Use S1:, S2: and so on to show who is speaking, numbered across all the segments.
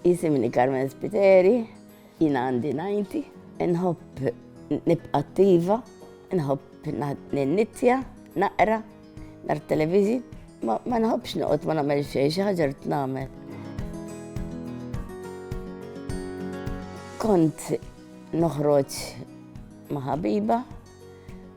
S1: Jisimni Carmen Spiteri, jiena għandi 90, inħobb nibqa' attiva, inħobb ninnittja, naqra, nar television, ma nħobbx noqgħod ma nagħmel xejn, xi ħaġa rrid nagħmel. Kont noħroġ ma' ħabiba,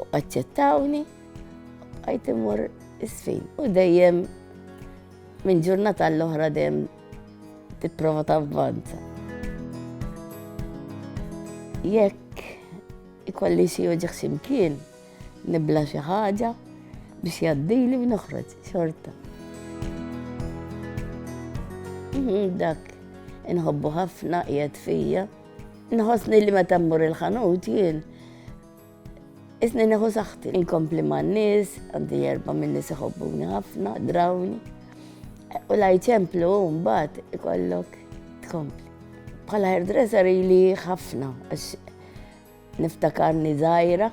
S1: U aċċettawni, bqajt immur isfin. U dejjem minn ġurnata l-oħra dejjem tipprova tavvanza. Jekk ikolli xi uġiħ ximkien, nibla xi ħaġa biex jaddili u noħroġ xorta. Mhm, dak inħobbu ħafna qiegħed fija. Nħossni li meta mmur il-ħanut jien Isni neħu saħti, inkompli man nis, għandi erba minn nis iħobbuni ħafna, drawni. U laj ċemplu mbagħad ikollok tkompli. Bħala hairdresser li ħafna għax niftakarni żgħira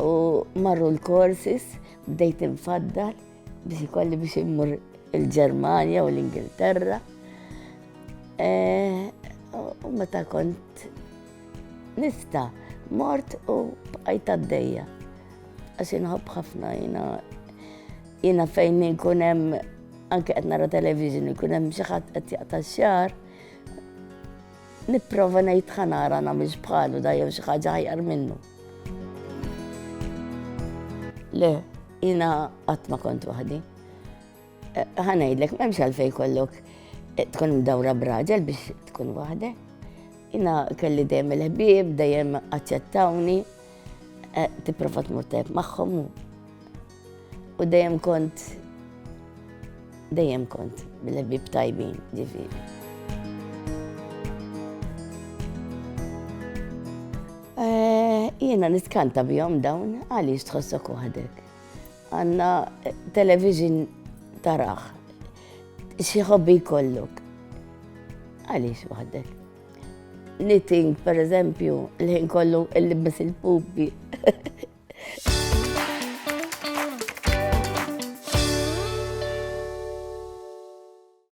S1: u marru l-korsis bdejt infaddal biex ikolli biex immur il-Ġermanja u l-Ingilterra. Eh, u meta kont Nifta, mort u bqajt għaddejja. Għax inħobb ħafna jina. Jina fejn inkun hemm anke qed nara television ikun hemm xi ħadd qed jaqta' xar. Nipprova ngħid ħanara nagħmilx bħalu da jew xi ħaġa ħajar minnu. Le, jina qatt ma kont waħdi. Ħa ngħidlek m'hemmx għalfejn kollok eh, tkun mdawra braġel biex tkun waħdek. Jina kelli dejjem il-ħbieb, dejjem aċċettawni, eh, tipprova tmur tajb magħhom u dejjem kont dejjem kont bil-ħbieb tajbin ġifieri. Eh, jiena nitkanta bihom dawn għaliex tħossok waħdek. Għandna television taraħ. Xi hobby jkollok? Għaliex waħdek? Knitting, per eżempju, l-ħin kollu il-libes il-pupi.